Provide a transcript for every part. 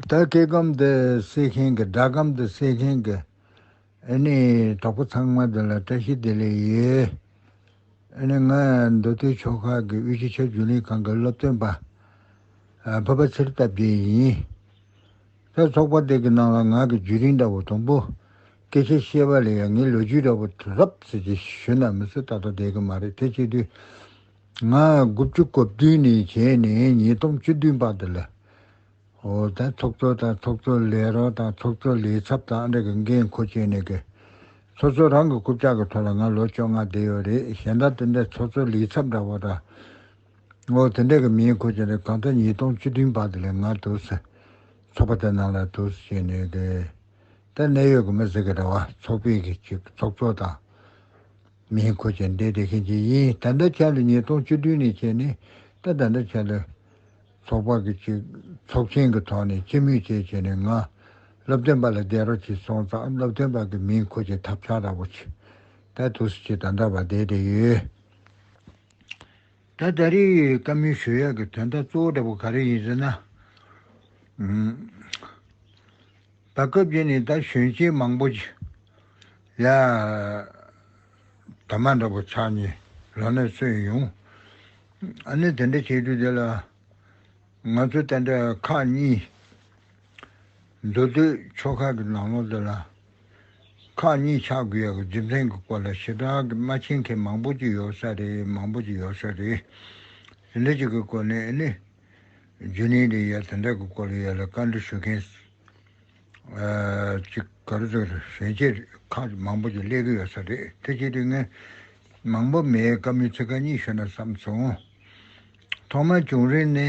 ད་སྐད་སྒམ་དེ་བསྲེས་མཁན་གྱི་སྒྲ་སྒམ་དེ་བསྲེས་མཁན་གྱི་ཨེ་ནས་གྲོགས་པོ་ཚང་མ་དེ་ལ་བཀྲ་ཤིས་བདེ་ལེགས་ཡོད། ཨེ་ནས་ང་མདོ་སྟོད་ཕྱོགས་ཁག་གི་དབུས་སྤྱི་ཁྱབ་རྒྱུན་ལས་ཁང་གི་སློབ་སྟོན་པ་བོད་པ་ཚེར་རྟ་བརྒྱད་ཡིན། ད་ཚོགས་པ་དེ་གི་ནང་ལ་ང་གི་རྒྱུད་རིང་འདྲ་བོ་དང་པོ་སྐད་ཆ་བཤད་པ་ལས་ཡང་ངའི་ལོ་རྒྱུས་འདྲ་བོ་རབ་ཟེར་གྱི་ཞུ་ན་མི་ཚེ་ད་ལྟ་བསྡད་གི་མ་རེད་དེ་བྱེད་དུས་ང་དགུ་བཅུ་གོ་བདུན་ནས་བྱས་ནས་ཉིས་སྟོང་བཅུ་བདུན་བར་དུ་ལ་ཨོ་ཐའི་ཚོགས་གཙོ་དང་ཚོགས་གཙོ་ལས་རོགས་དང་ཚོགས་གཙོ་ལས་ཚབ་དང་ཨ་འབྲེ་གི་འགན་འཁུར་བྱས་ནས་ཀྱི་ཚོགས་གཙོ་རང་གི་རྐུབ་ལྕག་གི་ཐོག་ལ་ང་ལོ་བཅོ་ལྔ་བསྡད་ཡོད་རེད་གཞན་དག་དེ་འདྲའི་ཚོགས་གཙོ་ལས་ཚབ་འདྲ་བོ་དང་ཨོ་དེ་འདྲ་གི་མིང་འཁུར་བྱས་ནས་གང་ལྟར་ཉིས་སྟོང་བཅུ་བདུན་བར་དུ་ལས་ང་དུ་སི་ཚོགས་པ་དེ་ནང་ལ་དུ་སི་བྱས་ནས་ཀྱི་ད་གནད་ཡོད་ཀྱི་མི་ཟེར་གི་འདྲ་བ་ཚོགས་པའི་གི་ཚོགས་གཙོ་དང། མིའི་གོ་ཆ་འདེད་བདེ་མཁན་གྱི་ཡིན་ད་ལྟ་ཆར་ལ་ཉིས་སྟོང་བཅུ་བདུན་ནས་བྱས་ནས་ད་ད་ལྟ་ཆར་ལ། ཚོགས་པ་གི་ཅིག་ཚོགས་ཆེན་གི་ཐོག་ནས་སྤྱི་མོས་བཅས་བྱས་ནས་ང། སློབ་སྟོན་པ་ལ་བསྡད་རོགས་བྱས་སོང་ཙང་སློབ་སྟོན་པ་གི་མིའི་གོ་ཆའི་ཐབས་ཆག་ར་བོ་ཆེ། ད་དུ་སུ་ཆེ་ད་འདྲ་བ་བསྡད་བསྡད་ཡོད། ད་ད་རེའི་བཀའ་མོལ་ཞུ་ཡག་གི་དོན་དག་གཙོ་བོ་འདྲ་བོ་ག་རེ་ཡིན་ཟེར་ན། ད་སྐབས་རྗེས་ནས་ད་གཞོན་སྐྱེས་མང་པོ། ཡང། དར་མ་འདྲ་པོ་ཕྱག་གཉིས་རང་ནས་གསོས་ཡོང། ཨ་ནི་དེ་འདྲ་བྱེད་དུས་དེ་ལ། ང་ཚོ་བསྟན་དགྲ་ཁག་གཉིས། འདུག་དུས་ཕྱོགས་ཁག་གི་ནང་ལོགས་དེ་ལ། ཁག་གཉིས་ཆགས་དགོས་ཡག་རྒྱུ་མཚན་གྱི་སྐོར་ལ་ཞེ་དྲག་གི་མ་མཁྱེན་མཁན་མང་པོ་ཅིག་ཡོད་ས་རེད་མང་པོ་ཅིག་ཡོད་ས་རེད། དེ་འདྲ་ཅིག་གི་སྐོར་ནས་ཨ་ནི། རྒྱུན་རིང་རེད་ཡ་དེ་འདྲ་གི་སྐོར་ལ་ཡ་ལ་བཀའ་འདྲི་ཞུ་མཁན། གཅིག་ག་རེ་ཟེར་ཞལ་ལྕེ་ཁ་མང་པོ་ཅིག་བསླེས་ཀྱི་ཡོད་ས་རེད་དེ་གཅིག་དེ་ངས་མང་པོ་མེད་སྐབས་མི་ཚེ་ག་གཉིས་ཤོད་ན་བསམ་སོང། ཐོག་མར་བྱུང་རིམ་ནི་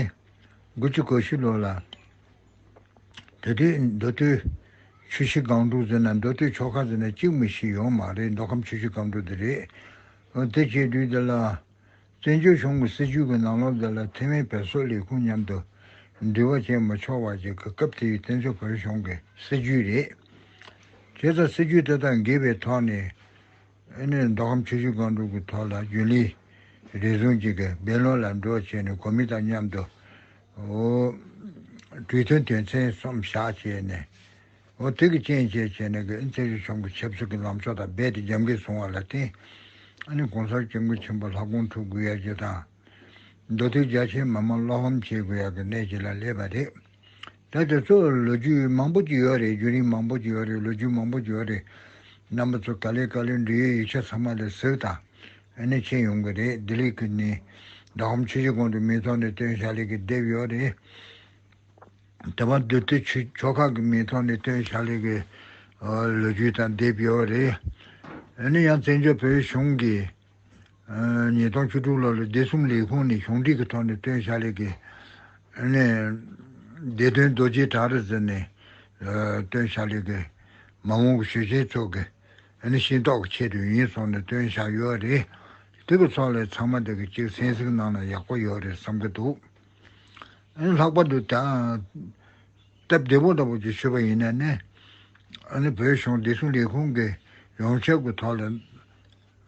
དགུ་བཅུ་གོ་བཞི་ལོ་ལ། དེ་དུས་མདོ་སྟོད་ཆུ་བཞི་སྒང་དྲུག་ཟེར་ན་མདོ་སྟོད་ཕྱོགས་ཁ་ཟེར་ན་གཅིག་མི་ཤི་ཡོང་མ་རེད་མདོ་ཁམས་ཆུ་བཞི་སྒང་དྲུག་དེ་རེད། དེ་བྱས་དུས་དེ་ལ། བཙན་བྱོལ་གཞུང་གི་སྲིད་བྱུས་ཀྱི་ནང་ལོ་འདི་ལ་ཐེ་ཝན་བལ་སོག་ལས་ཁུངས་མཉམ་དུ་འབྲེལ་བ་བྱེད་མ་ཆོག་བ་ཞིག་གི་སྐབས་དེའི་བཙན་བྱོལ་བོད་གཞུང་གི་སྲིད་བྱུས་རེད། དེ་ལྟར་སྲིད་བྱུས་དེ་དག་འགལ་བའི་ཐོག་ནས་ནས་མདོ་ཁམས་ཆུ་ཤུར་སྒང་དྲུག་གི་ཐོག་ལ་རྒྱུན་ལས་རེ་ཟུང་ཅིག་གིས་སྦེ་ལོན་ལ་འགྲོ་བ་བྱས་ནས་གོ་མིན་དང་མཉམ་དུ་འོ་གྲོས་མཐུན་དོན་ཚན་གསུམ་བཞག་བྱས་ནས། འོ་དེ་གི་ཅན་བཅས་བྱས་ནས་ཀིན་ཚེ་རིང་ཆོམ་གི་ཆབ་སྲིད་ཀི་ལམ་ཕྱོགས་དང་རྦད་དེ་རྒྱབ་འགལ་བཟུང་བ་ལ་བརྟེན། ཨ་ནི་གོང་གསར་སྐྱབས་མགོན་ཆེན་པོ་ལྷ་དགོངས་ཐུགས་དགུ་ཡར་རྒྱས་དང། མདོ་སྟོད་རྒྱ་ཆེའི་མི་མང་བློ་ཕམ་བྱེད་དགུ་ཡར་གི་གནས་བྱེད་ལ་སླེབས་པ་རེད། ད་དེ་ཚོ་ལོ་རྒྱུས་མང་པོ་བགྱིས་ཡོད་རེད་རྒྱུན་རིང་མང་པོ་བགྱིས་ཡོད་རེད་ལོ་རྒྱུས་མང་པོ་བགྱིས་ཡོད་རེད། རྣམ་པ་ཚོ་ད་ལས་བཀའ་ལས་འབྲེལ་ཡོད་ཡིག་ཆ་ཚང་མ་ལས་ཟིག་དང། ཨ་ནི་ཕྱིན་ཡོང་གི་རེད་ལྡི་ལི་ཀི་ནི། ཟླ་གམ་ཕྱི་ཕྱི་གོང་དུ་མི་ཚོགས་ནས་སྟོན་ཞྭ་ལེགས་ཀི་བསྡེབས་ཡོད་རེད། དེ་བར་དུ་དེ་ཆོས་ཕྱོགས་ཁག་གི་མིའི་ཐོག་ནས་སྟོན་ཞྭ་ལེགས་པའི་ལོ་རྒྱུས་དང་དེབ་ཡོད་པ་རེད། ཡིན་ན་ཡང་བཙན་བྱོལ་བོད་གཞུང་གིས་ཉིས་སྟོང་བཅུ་དྲུག་ལོ་ལ་སྡེ་གསུམ་ལས་ཁུངས་ནས་གཞུང་སྒྲིག་གི་ཐོག་ནས་སྟོན་ཞྭ་ལེགས་པའི་སྡེ་སྟོན་རྡོ་རྗེའི་བྲག་རི་ཟེར་ནས་སྟོན་ཞྭ་ལེགས་པའི་མ་འོངས་ཀྱི་ཞུ་ཆེན་ཚོགས་ཀྱི་ཤེས་རྟོགས་ཀྱི་ཆེད་དུ་ཡིན་གསུངས་ནས་སྟོན་ཞྭ་ཡོད་རེད། དེ་གི་ཚོགས་ལས་ཚང་མ་དེ་གི་གཅིག་གསན་གཟིགས་གནང་ན་ཡག་པོ་ཡོད་རེད་བསམ་གྱི་འདུག། ལྷག་པར་དུ་སྟབས་བདེ་བོ་འདྲ་པོ་ཞིག་བྱེད་པ་ཡིན་ན་ནི། བོད་གཞུང་བདེ་སྲུང་ལས་ཁུངས་ཀྱིས་ཡོངས་ཁྱབ་ཀྱི་ཐོག་ལ་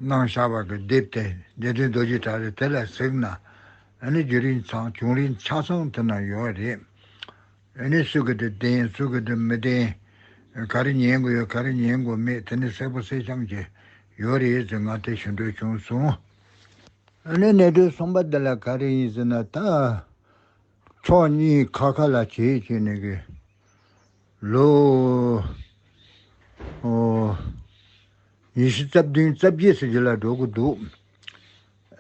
གནང་བཞག་པ་གྱི་དེབ་དེ་བདེན་དོན་རྡོ་རྗེ་བྲག་རེད་དེ་ལ་གཟིགས་ན། རྒྱུན་རིང་ཚང་བྱུང་རིང་ཆ་ཚང་དེ་ན་ཡོད་བ་རེད། སུ་གི་དེ་བདེན་སུ་གི་དེ་མི་བདེན། ག་རེ་ཉན་དགོས་ཡོད་ག་རེ་ཉན་དགོས་མེད་དེ་ནི་གསལ་པོ་གསལ་འཆམ་གྱི་ཡོད་རེད་ཟེར་ང་དེ་ཞུ་འདོད་བྱུང་སོང། ཨ་ནེ་གནད་དོན་གསུམ་པ་འདི་ལ་ག་རེ་ཡིན་ཟེར་ན་ད། ཕྱོགས་གཉིས་ཁ་ཁ་ལ་བྱེད་བྱེད་ནས་གི། ལོ། ཨོ། ཉི་ཤུ་རྩ་བདུན་རྩ་བརྒྱད་ཟེར་རྒྱུ་ལ་འགྲོ་གི་འདུག།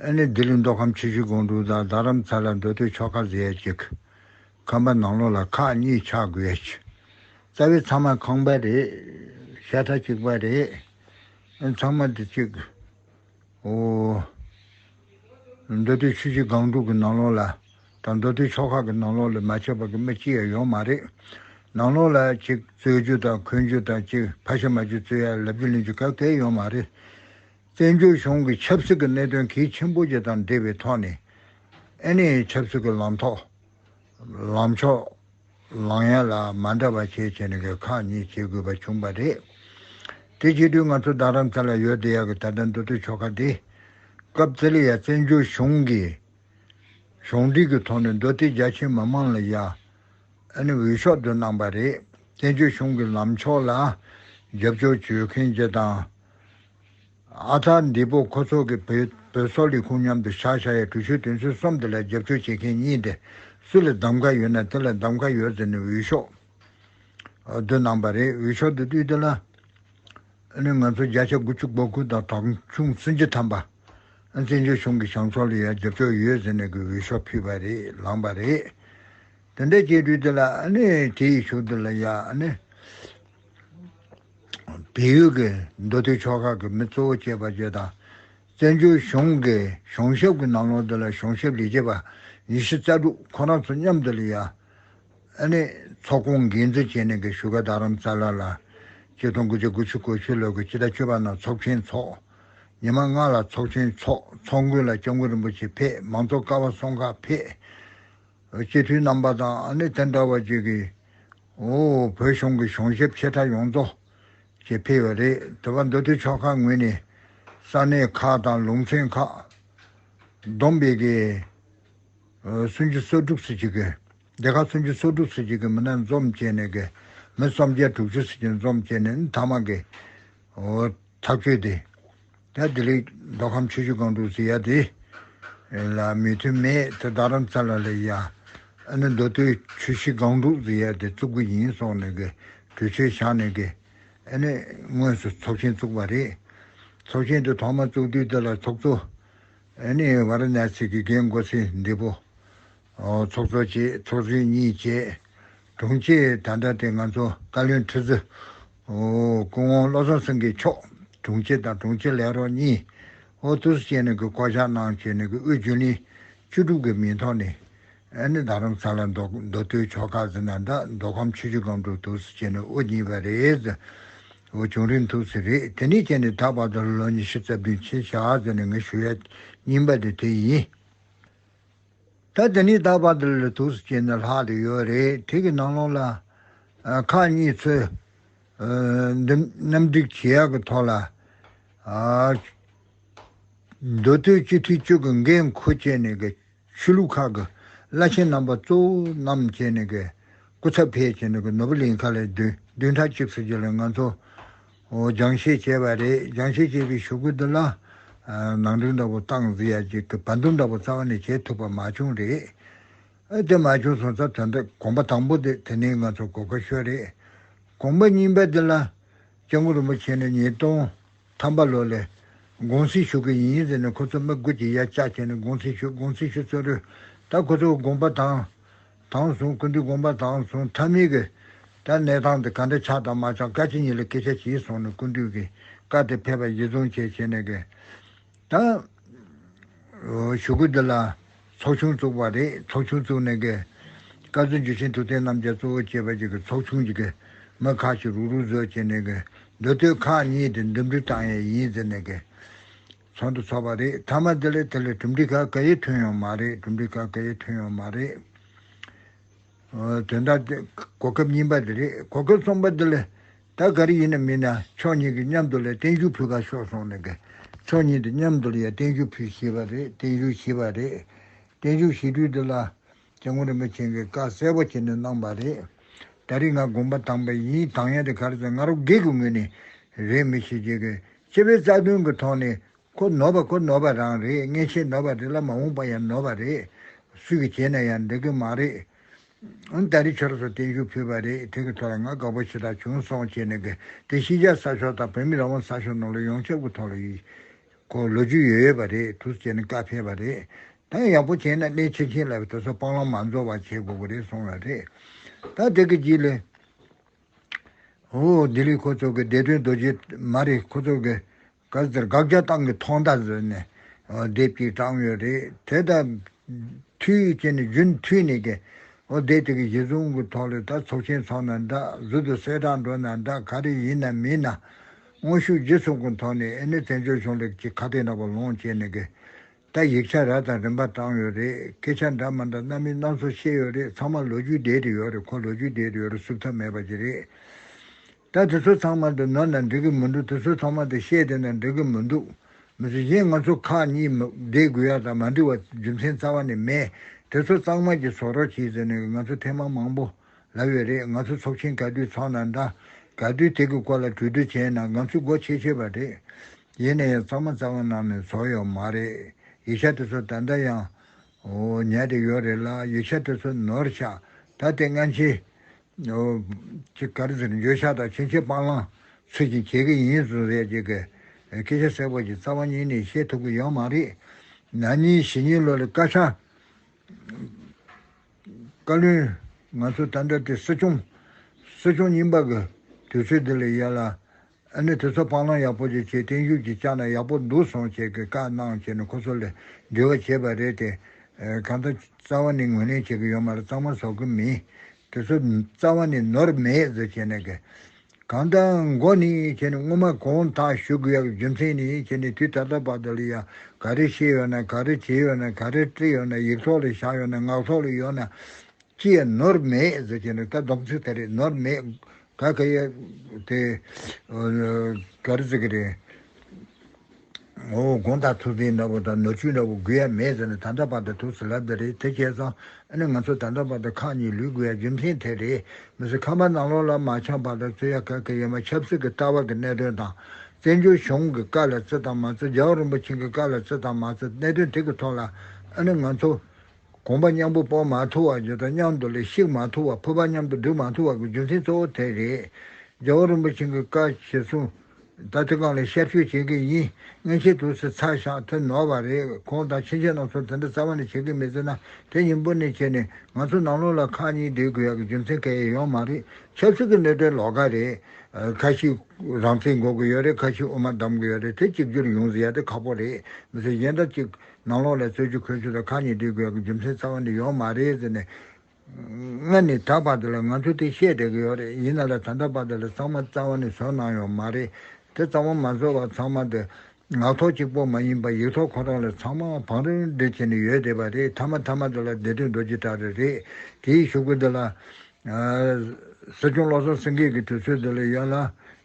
ཨ་ནེ་ལྡི་ལི་མདོ་ཁམས་ཆུ་བཞི་སྒང་དྲུག་དང་རྡ་རམ་ས་ལ་མདོ་སྟོད་ཕྱོགས་ཁ་ཟེར་ཡ་གཅིག། ཁམས་པ་ནང་ལོགས་ལ་ཁག་གཉིས་ཆགས་དགོས་ཡ་གཅིག། རྩ་བའི་ཚང་མ་ཁང་པ་རེད། ཤ་ཁྲ་གཅིག་པ་རེད། ཨེ་ཚང་མ་འདི་གཅིག། ཨོ། མདོ་སྟོད་ཆུ་བཞི་སྒང་དྲུག་གི་ནང་ལོགས་ལ་དང་མདོ་སྟོད་ཕྱོགས་ཁག་གི་ནང་ལོགས་ལ་མ་ཆད་པ་གི་མི་སྤྱི་ཡ་ཡོང་མ་རེད། ནང་ལོགས་ལ་གཅིག་རྩོད་རྒྱུ་དང་འཁོན་རྒྱུ་དང་གཅིག་ཕ་ཤ་མ་རྒྱུ་རྩོད་ཡ་ལབ་རྒྱུ་ལེན་རྒྱུ་ག་གལ་ཡོང་མ་རེད། བཙན་བྱོལ་གཞུང་གི་ཆབ་སྲིད་གི་གནད་དོན་གལ་ཆེན་པོ་བརྒྱད་དང་འབྲེལ་བའི་ཐོག་ནས། ཨ་ནེ་ཡའི་ཆབ་སྲིད་གི་ལམ་ཐོག་ལམ་ཕྱོགས་ལངས་ཡ་ལ་མ་འདྲ་བ་ཤས་ཆེ་ནས་གི་ཁག་གཉིས་བྱེད་དགོས་པ་བྱུང་བ་རེད། དེ་བྱེད་དུས་ང་ཚོ་རྡ་རམ་ས་ལ་ཡོད་བསྡད་ཡ་གི་ད་ལྟ་མདོ་སྟོད་ཆོལ་ཁ་དེ། སྐབས་དེ་ལ་ཡ་བཙན་བྱོལ་གཞུང་གི་གཞུང་འབྲེལ་གི་ཐོག་ནས་མདོ་སྟོད་རྒྱ་ཆེ་མི་དམངས་ལ་ཡ་ནི་འོས་ཤོག་འདོན་གནང་བ་རེད། བཙན་བྱོལ་གཞུང་གི་ལམ་ཕྱོགས་ལ་རྒྱབ་སྐྱོར་བྱོས་མཁན་བཅས་དང། ཨ་ཐ་འདི་པོ་ཁོ་ཚོ་གི་བོད་བོད་སོག་ལས་ཁུངས་མཉམ་དུ་ཤག་ཤག་ཡ་གྲུ་ཆོད་དོན་ཚུལ་གསུམ་དེ་ལ་རྒྱབ་སྐྱོར་བྱེད་མཁན་གཉིས་དེ་སུ་ལ་གདམ་ག་ཡོད་ན་དེ་ལ་གདམ་ག་ཡོད་ཟེར་ནས་འུད་ཤོག་དུ་གནང་པ་རེད་འུད་ཤོག་དུ་བཏུས་དེ་ལ་ནི་ང་ཚོ་བརྒྱ་ཆ་དགུ་བཅུ་གོ་དགུ་དང་དྲག་ཆུང་བཙུན་བྱི་དམ་པ་བཙན་བྱོལ་གཞུང་གི་བྱང་ཕྱོགས་ལ་ཡ་རྒྱབ་སྐྱོར་ཡོད་ཟེར་ནས་གི་འུད་ཤོག་ཕུལ་བ་རེད་ལངས་པ་རེད་དེ་འདྲ་བྱས་དུས་དེ་ལ་ནི་དེ་ཡི་ཞུགས་དེ་ལ་ཡ་ནི། བལ་ཡུལ་གྱི་མདོ་སྟོད་ཕྱོགས་ཁག་གི་མི་གཙོ་བོ་བཅས་པ་བཅས་དང། བཙན་བྱོལ་གཞུང་གི་གཞུང་ཞབས་ཀྱི་ནང་ལོགས་འདི་ལ་གཞུང་ཞབས་ལས་བྱེད་པ་ཉེར་བཞི་རྩ་དྲུག་ཁོ་རང་ཚོ་མཉམ་དུ་ལ་ཡ། ནས་ཚོགས་སྐོང་འགན་འཛིན་བྱས་ནས་ཀྱི་བཞུགས་སྒར་རྡ་རམ་ས་ལ་ལ། སྤྱི་སྟོང་དགུ་བརྒྱ་དགུ་ཅུ་གོ་ཆོད་ལོར་གྱི་སྤྱི་ཟླ་བཅུ་པ་ནང་ཚོགས་ཆེན་འཚོགས། ཉི་མ་ལྔ་ལ་ཚོགས་ཆེན་འཚོགས་ཚོགས་མགོན་ལ་སྐྱབས་མགོན་རིན་པོ་ཆེ་ཕེབས་མང་གཙོ་ཀ་བ་སོང་ཁ་ཕེབས། སྤྱི་འཐུས་རྣམ་པ་དང་ནི་དེ་འདྲ་བ་བཅས་ཀྱི། བོད་གཞུང་གི་གཞུང་ཞབས་ཆེ་ཕྲ་ཡོངས་རྫོགས་ཀྱིས་ཕེབས་པ་རེད་དེ་བར་མདོ་སྟོད་ཕྱོགས་ཁག་ངོས་ནས་ས་གནས་ཁག་དང་ལུང་ཚན་ཁག་བསྡོམས་པས་སྡེ་ཁག་སུམ་ཅུ་སོ་དྲུག་སོ་གཅིག་གི་མི་སྣ་འཛོམས་བཅས་ནས་མི་སུམ་བརྒྱ་དྲུག་ཅུ་སོ་གཅིག་འཛོམས་བཅས་ནས་མཐའ་མ་གི་ཐག་ཆོད་དེ། ཡ་དེ་ལེགས། མདོ་ཁམས་ཆོས་བརྒྱུད་སྒང་དྲུག་ཟེར་ཡ་དེ། ལ་མི་མཐུན་མེད་དེ་རྡ་རམ་ས་ལ་ལས་ཡ། ཨ་ནི་མདོ་སྟོད་ཆུ་བཞི་སྒང་དྲུག་ཟེར་ཡ་དེ་བཙུགས་གི་ཡིན་སོགས་ནས་གི་གྲོས་ཆོད་བཞག་ནས་གི། ཨ་ནི་དངོས་སུ་ཚོགས་ཆེན་བཙུགས་པ་རེད། ཚོགས་ཆེན་དེ་ཐོག་མ་བཙུགས་དུས་དེ་ལ་ཚོགས་གཙོ། ཨ་ནི་བ་ར་ནཱ་སི་ཀི་རྒན་མགོ་སེ་འདི་པོ། ཚོགས་གཙོ་བཅས་ཚོགས་གཞོན་གཉིས་བཅས། དྲུང་ཆེ་ད་ལྟ་དེ་ང་ཚོ་བཀའ་བློན་ཁྲི་ཟུར། སྐུ་ངོ་བློ་བཟང་སེང་གེ་མཆོག་དྲུང་ཆེ་དང་དྲུང་ཆེ་ལས་རོགས་གཉིས། ཨོ་ཐུ་སི་བཅས་ནས་ཀྱི་བསྐོ་བཞག་གནང་བྱས་ནས་ཀྱི་དབུས་རྒྱུན་ལས་བཅུ་དྲུག་གི་མིང་ཐོག་ནས། ཨ་ནི་རྡ་རམ་ས་ལ་མདོ་སྟོད་ཕྱོགས་ཁག་ཟི་ན་དག་མདོ་ཁམས་ཆུ་བཞི་སྒང་དྲུག་ཐུགས་སི་བཅས་ནས་དབུ་བརྙེས་པ་རེད། ཟོ་བྱུང་རིམ་ཐུགས་སི་རེད་དེ་ནས་བཅས་ནས་ད་བར་དུ་ལོ་ཉི་ཤུ་རྩ་བདུན་ཕྱིན་བཞག་ཟེར་ནས་ངས་ཞུ་ཡ་སྙིང་པ་དེ་དེ་ཡིན། ད་དེ་ནས་ད་བར་དུ་ལི་ཐུགས་སུ་བསྐྱེད་ནས་ལྷག་ཏུ་ཡོད་རེད་དེ་གི་ནང་ལོགས་ལ། ཁག་གཉིས་ཚོས། གནམ་སྒྲིག་བྱེད་ཡག་གི་ཐོག་ལ། མདོ་སྟོད་སྤྱི་འཐུས་གཅིག་གི་འགན་འཁུར་བྱས་ནས་གི་ཆོས་ལུགས་ཁག་གི་བླ་ཆེན་རྣམ་པ་གཙོ་བོ་རྣམས་བྱས་ནས་གི་སྐུ་ཚབ་ཕེབས་བྱས་ནས་གི་ནོར་བུ་ལིང་ཁ་ལས་བདུན་ཕྲག་གཅིག་ཚུན་ཆད་ལ་ང་ཚོ། སྦྱང་བཤད་བྱས་པ་རེད། སྦྱང་བཤད་བྱས་པའི་ཤོག་བུ་འདི་ལ། ནང་དོན་འདྲ་པོ་སྟངས་འཛིན་ཡ་གཅིག་གི་བར་འདུམ་འདྲ་པོ་རྩ་བ་ནས་བྱས་ཐུབ་པ་མ་བྱུང་རེད། ཨེ་དེ་མ་བྱུང་སོང་ཙ་དོན་དག་གོམ་པ་དང་པོ་དེ་དེ་ནས་ང་ཚོ་གོ་དཀའ་ཤོས་རེད། གོམ་པ་གཉིས་པ་དེ་ལ། སྐྱབས་མགོན་རིན་པོ་ཆེ་ནས་ཉིས་སྟོང་ཐམ་པ་ལོ་ལས། དགོངས་སེལ་ཞུ་གི་ཡིན་ཟེར་ནས་ཁོ་ཚོ་མི་དགུ་གྱིས་ཡ་ལྕག་བྱས་ནས་དགོངས་སེལ་ཞུ་དགོངས་སེལ་ཞུ་ཚོད་རོལ། ད་ཁོ་ཚོ་དགོངས་པ་དང། དང་བཟུང་ཀུན་འདུས་བསྒོམ་པ་དང་བཟུང་ཐ་མི་དགོས། ད་གནས་སྟངས་དེ་ག་འདྲ་ཆགས་དང་མ་ཆགས་བཀའ་སྤྱི་གཉིས་ལ་སྐད་ཆ་བྱས་སོང་ནས་ཀུན་འདུས་ཀྱི་བཀའ་དེ་ཕེབས་པ་བཞི་བཟུང་བྱས་བྱས་ནས་དགོས། ད། ཞུ་སྐུལ་འདི་ལ་ཚོགས་ཆུང་བཙུགས་པ་རེད་ཚོགས་ཆུང་བཙུགས་ནས་དགོས། བཀའ་བརྫུན་འཇུ་ཆེན་ཐུབ་བསྟན་རྣམ་རྒྱལ་གཙོ་བོ་བྱས་པ་ཅིག་གི་ཚོགས་ཆུང་གི་དགོས། མི་ཁག་ཅིག་རུག་རུག་བཟོས་བྱས་ནས་དགོས། མདོ་སྟོད་ཁག་གཉིས་དེ་འདུམ་འགྲིག་བཏང་ཡས་ཡིན་ཟེར་ནས་དགོས། ཚོགས་འདུ་ཚོགས་པ་རེད་ཐ་མ་དེ་ལས་དེ་ལས་གྲུབ་འབྲས་ག་ག་ཡེ་ཐོན་ཡོང་མ་རེད་གྲུབ་འབྲས་ག་ག་ཡེ་ཐོན་ཡོང་མ་རེད། དོན་དག་དེ་གོ་སྐབས་རྙིང་པ་དེ་རེད་གོ་སྐབས་གསུམ་པ་དེ་ལས་ད་ག་རེ་ཡིན་ན་མིན་ན་ཕྱོགས་གཉིས་ཀྱི་མཉམ་དུ་ལ་བརྟན་བཞུགས་ཕུལ་ཁ་ཤོག་སོང་ནས་གི་ཕྱོགས་གཉིས་དེ་མཉམ་དུ་ལ་ཡ་བརྟན་བཞུགས་ཕུལ་ཤེས་པ་རེད་བརྟན་བཞུགས་ཤེས་པ་རེད་བརྟན་བཞུགས་ཤེས་དུས་དེ་ལ་དེ་ངོ་རིན་པོ་ཆེན་གྱིས་བཀའ་གསལ་བོ་བྱས་ནས་གནང་བ་རེད། ད་རིང་ང་དགོངས་པ་དྭངས་པ་ཡིན་དྭངས་ཡང་དེ་ག་རེ་ཟེར་ང་རོ་སྒེག་གི་ངོས་ནས་རེད་མི་ཤེས་ཀྱི། སྤྱི་བའི་རྩ་དོན་གྱི་ཐོག་ནས་ཁོ་ནོར་བ་ཁོ་ནོར་བ་རང་རེད་མངལ་ཆེན་ནོར་བ་རེད་ལ་མ་འོངས་པ་ཡང་ནོར་བ་རེད། སུས་ཀྱི་བྱས་ན་ཡང་འགྲིག་གི་མ་རེད། ད་རིང་ཁྱོད་རང་ཚོ་བརྟན་བཞུགས་ཕུལ་བ་རེད་དེ་གི་ཐོག་ལ་ང་དགའ་བོ་ཞེ་དྲག་བྱུང་སོང་བྱས་ནས་གི་དེ་ཤིས་རྒྱལ་ས་ཕྱོགས་དང་བོད་མི་རང་དབང་ས་ཕྱོགས་ནང་ལ་ཡོངས་ཁྱབ་གི་ཐོག་ལ་ཡིག་སྐོར་ལོ་རྒྱུས་ཡོད་ཡོད་པ་རེད་དུ་བྱས་ནས་བཀའ་ཕེབས་པ་རེད། ད་ཡག་པོ་བྱས་ན་སླད་ཕྱིན་ཁྱེད་ལ་དེ་ཚོ་སྤང་བླང་མ་འཛོལ་བ་བྱེད་དགོས་ཀྱི་རེད་གསུངས་ལ་རེད་ད་དེ་གི་རྗེས་ལས། ཧོ་ལྡི་ལི་ཁོ་ཚོ་གི་བདེ་དོན་རྡོ་རྗེ་མ་རེད་ཁོ་ཚོ་གི་ག་ཚོད་དགག་བྱ་ཏང་གི་ཐོག་མདའ་བཟོས་ནས་དེབ་ཅིག་དྲངས་ཡོད་རེད་དེ་ད་དུས་ཀྱི་ནི་རྒྱུན་མཐུད་ནས་ཀྱི་ཨོ་དེབ་དེ་གི་གཞི་བཟུང་གི་ཐོག་ལས་ད་ཚོགས་ཆེན་ཚོགས་ན་འདྲ་ཟུར་དུ་གསལ་བསྒྲགས་འགྲོ་ན་འདྲ་ག་རེ་ཡིན་ན་མིན་ན་དངོས་ཤུགས་ལྗིད་ཚུགས་གི་ཐོག་ནས་ཨེ་ནི་བཙན་བྱོལ་གཞུང་ལས་ཀྱི་ཁ་གཏད་འདྲ་པོ་ལོངས་སྤྱད་ནས་ཀྱི་ད་ཡིག་ཆ་ར་དང་རིམ་པ་བཏང་ཡོད་རེད་སྐད་ཆ་འདྲ་མ་འདྲ་གནའ་མི་སྣ་ཚོ་བཤད་ཡོད་རེད་ཚང་མ་ལོ་རྒྱུས་བསྡད་དེ་ཡོད་རེད་ཁོ་ལོ་རྒྱུས་བསྡད་དེ་ཡོད་རེད་བསུབ་ཐབས་མེད་པ་ཅིག་རེད་ད་དེ་ཚོ་ཚང་མ་དེ་ནོར་ན་འགྲིག་གི་མི་འདུག་དེ་ཚོ་ཚང་མ་དེ་བཤད་དེ་ན་འགྲིག་གི་མི་འདུག་མི་ཚེ་གཞན་ང་ཚོ་ཁག་གཉིས་བསྡད་དགོས་ཡག་དང་མ་འགྲིག་བ་རྒྱུ་མཚན་རྩ་བ་ནས་མེད་དེ་ཚོ་གཙང་མ་གྱི་ཚོགས་རོགས་བྱས་ཟེར་ནས་ང་ཚོ་ཐེངས་མང་མང་པོ། ལབ་ཡོད་རེད་ང་ཚོ་ཚོགས་ཆེན་ག་དུས་ཚོགས་ན་འདྲ། ག་དུས་དེ་གི་སྐོར་ལ་གྲོས་བསྡུར་བྱས་ན་ང་ཚོས་སྒོ་ཕྱེ་ཆོད་པ་རེད། ཡིན་ན་ཡང་གཙང་མ་གཙང་མ་ནང་ནས་ཚོགས་ཡོད་མ་རེད། ཡིག་ཆ་དེ་ཚོ་ད་ལྟ་ཡང། ཉལ་ཏེ་ཡོད་རེད་ལ་ཡིག་ཆ་དེ་ཚོ་ནོར་ཆག་ད་དེ་སྔ་ཕྱི། ཅི་ག་རེ་ཟེར་འགྱོད་བཤགས་དང་ཕྱིན་ཆད་སྤང་བླང་ཚུལ་བཞིན་བྱེད་ཀྱི་ཡིན་ཟུར་ཟའི་རྗེས་ཀྱི་སྐད་ཆ་གསལ་པོ་ཞིག་རྩ་བ་ཉིད་ནས་ཤེས་ཐུབ་ཀྱི་ཡོད་མ་རེད། ན་ནིང་ཞི་ཉིན་ལོ་ལ་སྐར་ཆ། བཀའ་བློན། ང་ཚོ་ད་ལྟ་དེ་སྲིད་སྐྱོང། སྲིད་སྐྱོང་རྙིང་པ་གི་དུས་ཚོད་དེ་ལས་ཡལ་ལ། ཨ་ནི་དེ་ཚོ་སྤང་བླང་ཡག་པོ་ཅིག་བྱས་བརྟན་བཞུགས་ཀྱི་བཅག་ན་ཡག་པོ་འདུག་སོང་བྱས་ཀྱི་བཀའ་གནང་བྱས་ནས་ཁོ་ཚོ་ལས་འབྲེལ་བ་བྱས་པ་རེད་དེ། གང་ལྟར་རྩ་བ་ནས་ངོས་ལེན་བྱེད་ཀྱི་ཡོད་མ་རེད་གཙང་མ་བཟོ་གི་མིན། དེ་ཚོ་རྩ་བ་ནས་ནོར་མེད་བཟོ་བྱས་ནས་ཀྱི། གང་ལྟར་མགོ་ནི་སྔོན་མ་གང་དག་ཞུ་དགོས་ཡག་རྒྱུ་མཚན་ནི་དུས་ད་ལྟ་བར་དུ་ལ་ཡང་ག་རེ་བཤད་ཡོད་ན་ག་རེ་བྱས་ཡོད་ན་ག་རེ་བཀྲིས་ཡོད་ན་ཡིག་ཐོག་ལ་བཞག་ཡོད་ན་ངག་ཐོག་ལ་ཡོད་ན་ཅི་ཡང་ནོར་མེད་ཟེར་གྱི་འདུག་ད་སྡོམ་ཚིག་དེ་རེད་ནོར་མེད་ག་ག་ཡག་དེ་ག་རེ་ཟེར་གྱི་རེད། ངོ་བོ་སྒོང་དང་ཐུག་ཚིགས་འདྲ་བོ་དང་ནོར་ཆུ་འདྲ་བོ་དགོས་ཡ་མེད་ཟེར་ན་ད་ལྟ་བར་དུ་ཐུགས་སུ་ལབ་དེ་རེད་དེ་ཁྱེད་ཚང་ཨ་ནི་ང་ཚོ་ད་ལྟ་བར་དུ་ཁག་གཉིས་ལུས་དགོས་ཡ་རྒྱུ་མཚན་དེ་རེད་མི་སུ་ཁ་མ་ནང་ལོག་ལ་མ་འཆམ་བར་དུ་བརྩི་ཡ་ག་གི་ཡོད་མ་ཆབ་སྲིད་ཀྱི་ལྟ་བ་གི་གནད་དོན་དང་བཙན་བྱོལ་གཞུང་གི་བཀའ་ལ་བརྩི་དང་མ་བརྩི་རྒྱལ་བ་རིན་པོ་ཆེན་གྱི་བཀའ་ལ་བརྩི་དང་མ་བརྩི་གནད་དོན་དེ་གི་ཐོག་ལ་ཨ་ནི་ང་ཚོ་གོམས་པ་མཉམ་པོ་སྤོ་མ་ཐུབ་བ་ཇི་ལྟར་མཉམ་དུ་ལས་ཤིག་མ་ཐུབ་བ་ཕུར་པ་མཉམ་དུ་སྒྲིག་མ་ཐུབ་བ་གི་རྒྱུ་མཚན་གཙོ་བོ་དེ་རེད། རྒྱལ་བ་རིན་པོ་ཆེན་གྱི་བཀའ་བཞེས་གསུངས། ད་དེ་གང་ལས་ཤར་ཆོས་བྱེད་ཀྱི་ཡིན་མངན་ཆད་དུ་སེ་ཚ་ཞག་དེ་ནོར་བ་རེད་ཁོང་དང་ཕྱིན་ཆད་རྣམ་གསུམ་དེ་འདྲ་རྩ་བ་ནས་བྱེད་ཀྱི་མི་ཚེ་ན་དེ་ཉིན་པོ་ནས་བྱས་ནས་ང་ཚོ་ནང་ལོག་ལ་ཁག་གཉིས་སྒྲིག་དགོས་ཡ་གི་རྒྱུ་མཚན་གལ་ཡོང་མ་རེད་ཆབ་སྲིད་ཀྱི་གནོད་ཐེབས་ལོག་ཀ་རེད། ཁ་ཞིག་རང་བཙན་འགོག་གི་ཡོད་རེད་ཁ་ཞིག་དབུ་མ་བསྡམ་གི་ཡོད་རེད་དེ་གཅིག་གྱུར་ཡོང་ཟེར་ཡ་དེ་ཁག་པོ་རེད་མི་ཚེ་གཞན་དག་ཅིག་ནང་ལོགས་ལ་རྩོད་རྒྱུ་འཁོལ་རྒྱུ་དང་ཁག་གཉིས་སྒྲིག་དགོས་ཀྱི་རྒྱུ་མཚན་རྩ་བ་ནས་ཡོད་མ་རེད་ཟེར་ནས། ང་ནི་ད་བར་དུ་ལ་ང་ཚོ་དེ་བཤད་བསྡད་ཀྱི་ཡོད་རེད་ཡིན་ན་ལ་ད་ལྟ་བར་དུ་ལ་ཚང་མ་རྩ་བ་ནས་བཟོ་གནང་ཡོད་མ་རེད་དེ་རྩ་བ་མ་བཟོ་བར་ཚང་མ་དེ། ངག་ཐོག་གཅིག་པོ་མ་ཡིན་པར་ཡིག་ཐོག་ཁོ་རང་ལ་ཚང་མ་བང་རིམ་སྒྲིག་བྱས་ནས་ཡོད་བསྡད་པ་རེད་མཐའ་མ་མཐའ་མ་དེ་ལ་བསྡད་དུས་རྡོ་རྗེ་བྲག་རི་རེད་དེའི་ཤུག་པོ་དེ་ལ། སྲིད་སྐྱོང་བློ་བཟང་སེང་གེ་གི་དུས་ཚོད་དེ་ལ་ཡོད་ལ།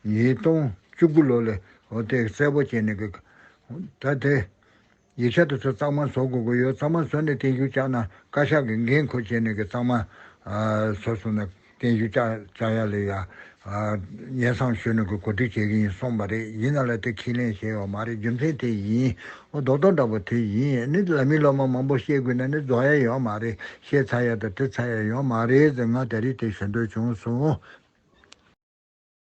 ཉིས་སྟོང་བཅུ་དགུ་ལོ་ལ། དེ་གསལ་པོ་བྱས་ནས། ད་དེ། ཡིག་ཆ་དེ་ཚོ་གཙང་མ་བཟོ་དགོས་ཀྱི་ཡོད་གཙང་མ་བཟོས་ནས་བསྟན་བཞུགས་བཅག་ན་བཀའ་ཤག་གིས་འགན་ཁུར་བྱས་ནས་ཀྱི་གཙང་མ་བཟོ་སོང་ན་བསྟན་བཞུགས་བཅག་ཡ་ལས་ཡ་ཡན་བསང་ཞོས་ནས་ཀྱི་གོ་སྒྲིག་བྱེད་ཀྱི་ཡིན་གསུངས་པ་རེད་ཡིན་ན་ལ་དེ་ཁས་ལེན་བྱས་ཡོད་མ་རེད་རྒྱུ་མཚན་དེ་ཡིན་འོ་རྡོག་རྡོག་འདྲ་པོ་དེ་ཡིན་ནི་ལ་མི་སློབ་མ་མང་པོ་བཤད་དགོས་ན་ནི་རྫོགས་ཡ་ཡོད་མ་རེད་བཤད་ཚར་ཡ་དང་དྲི་ཚར་ཡ་ཡོད་མ་རེད་ཟེར་ང་ད་རིས་དེ་ཞུ་འདོད་བྱུང་སོང།